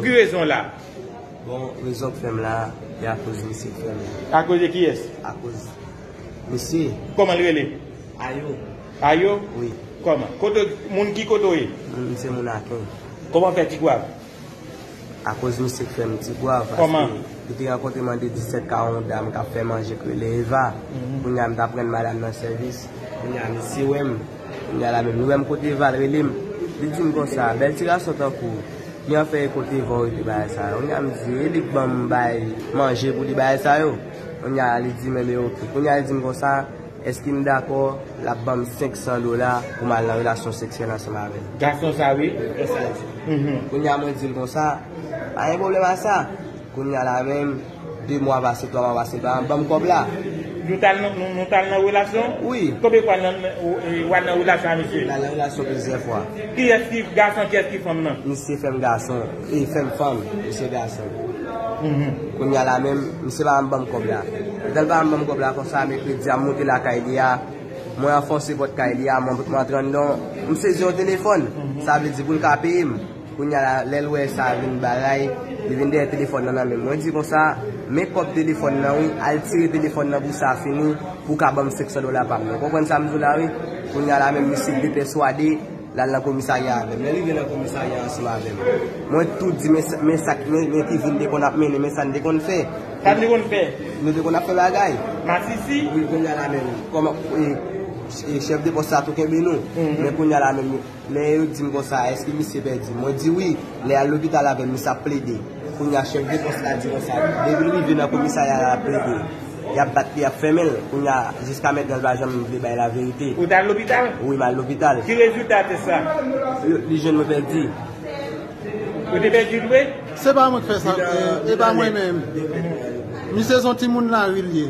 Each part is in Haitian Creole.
Pou ki rezon w la? Bon, rezon k fè m la, e akoz misye frè m. Akoz de kiyès? Akoz misye. Kòman l rele? Ayo. Ayo? Wi. Kòman? Kote w, moun ki kote w ye? M se moun Aken. Kòman w fè Tigwav? Akoz misye k fè m Tigwav. Kòman? Paske li te rankontre m an 2017 ka yon dam k ap fè manje k rele Eva. Kounye a m t aprann madam nan sèvis. Kounye a misye wè m. Kounya la menm yo menm kote val relem li dim konsa bèl ti gason tankou w li an fè e kote val rete bagay sa yo kounya m di e li k banm bay manje pou li bagay sa yo kounya la li dim enben ok kounya li dim konsa èske m dakò lap banm 500 dola pou m al nan relasyon seksyèl ansanm avèl gason sa wi kounya mwen dil konsa pa gen pwoblèm a sa kounya la menm. 2 mwa pase 3 mwa pase pa banm kob la. Nou tal nan relasyon? Wi. Konbyen fwa nan wa nan relasyon a misye? Nan relasyon plizyè fwa. Kiyès ki gason kiyès ki fanm nan? Misye fèm gason e fèm fanm misye gason. Kounya la menm misye pa banm kob la. Lèl pa banm kob la konsa mekredi a moute lakay li a mwen anfonse pot kay li a mwen antre andan mwen sezi yon telefòn sa vle di poul ka peyem. Kounya la, lè l wè sa vin baray, li vin dèyè telefòn nan nan men m. Mwen di konsa, Men kòb telefòn nan wi, al tire telefòn nan pou sa fini, pou w ka ban m 500 dola pa m nan. W konprann sa m di w la wi? Kounya la menm misye depèswade, l al nan komisarya avè m. Lè l rive nan komisarya ansanm avè m, mwen tou di men men sa k men ki vi n te konn ap mennen, men sa n te konn fè. Sa n te konn fè? Nou te konn ap fè bagay. Masisi? Wi, kounya la menm, kòman e chèf de pòs sa tou kenbe nou. Men kounya la menm. Men yo di m konsa, èske misye pèdi? Mwen di wi, lè y al lopital avè m, misye ap plede. Kounye a chèf de pòs la di konsa, depi l rive nan komisarya la, l ap plede. Y ap bat li, y ap fèmen l. Kounye a, jiska mètnan l pa janm vle bay laverite. Ou t al lopital? Wi, m al lopital. Ki rezilta tès la? Li jwenn mwen pèdi. Ou te pèdi vre? Se pa mwen k fè sa, e pa mwen menm. Misye s on timoun lari l ye.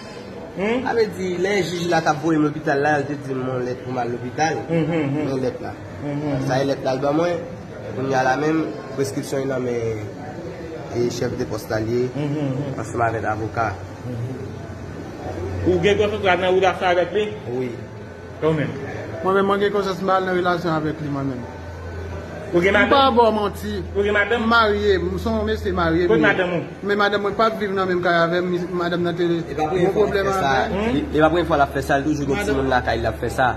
Sa vle di lè jij la tap voyem lopital la yo te dim yon lèt pou m al lopital men lèt la sa e lèt la al ban mwen kounya la menm preskripsyon nan men chèf de pòs la li ye ansanm avèk avoka. Ou gen kontra nan ou la fè avèk li? Wi. Ou menm? Mwen menm mwen gen konsyans m pa al nan relasyon avèk li mwen menm. Ou gen madanm? M pa ba w manti. Ou gen madanm? M marye, m son w mesye marye m ye. Kot madanm ou? Men madanm mwen pap viv nan menm kay avè m, madanm nan te gen pwoblèm avè l. E pa premye fwa l ap fè sa, li toujou gen timoun lakay li ap fè sa.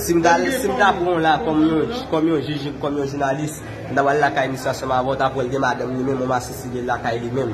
Si m ta si m ta pran w la kòm yon kòm yon jij, kòm yon jounalis, m ta pral lakay misye ansanm avè w, ta pran l gen madanm li menm, yon masisi li lakay li menm.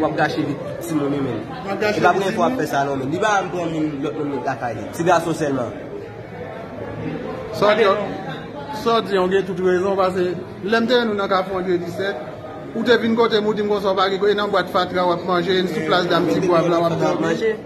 Wap gache vi ti moun wi menn. Se pa premye fwa wap fè sa non menn. Li pa janm pran moun lòt moun met lakay li. Ti gason sèlman. Sa w di an w gen tout rezon pase lè m te jwenn ou nan kafou Andre 17 ou te vin kote m ou di m konsa w pa gen kote e nan bwat fatra wap manje e sou plas dam ti gwav la wap dòmi.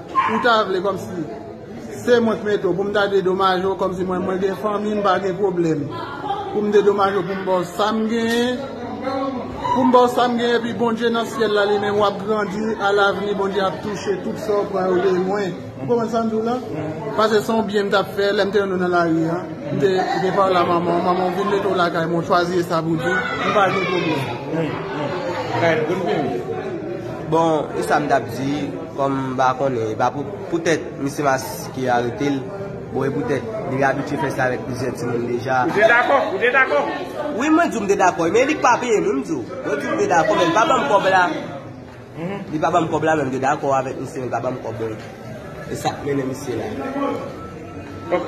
Ou ta vle komsi se mwen k mete w pou m ta dedomaje w komsi mwen mwen gen fanmi m pa gen pwoblèm pou m dedomaje w pou m ba w sa m genyen pou m ba w sa m genyen epi Bondye nan syèl la li menm w ap grandi a lavni Bondye ap touche tout sa w pran yo de mwen ou konprann sa m di w la pase se yon byen m t ap fè lè m te wè nou nan lari a m te gen pale a manman w manman w vin mete w lakay mwen w chwazi Esabudi m pa gen pwoblèm. Bon e sa m t ap di. Kòm m pa konnen, e pa pou poutèt misye maske arete l, bon e poutèt li abitye fè sa avèk plizyè timoun deja. Ou te dakò? Ou te dakò? Wi mwen di w m te dakò e men li k pa peye m wi m di w. Mwen di w m te dakò men li pa ban m kòb la. Li pa ban m kòb la men m te dakò avèk misye men li pa ban m kòb mwen. E sa k mennen misye la. Ok.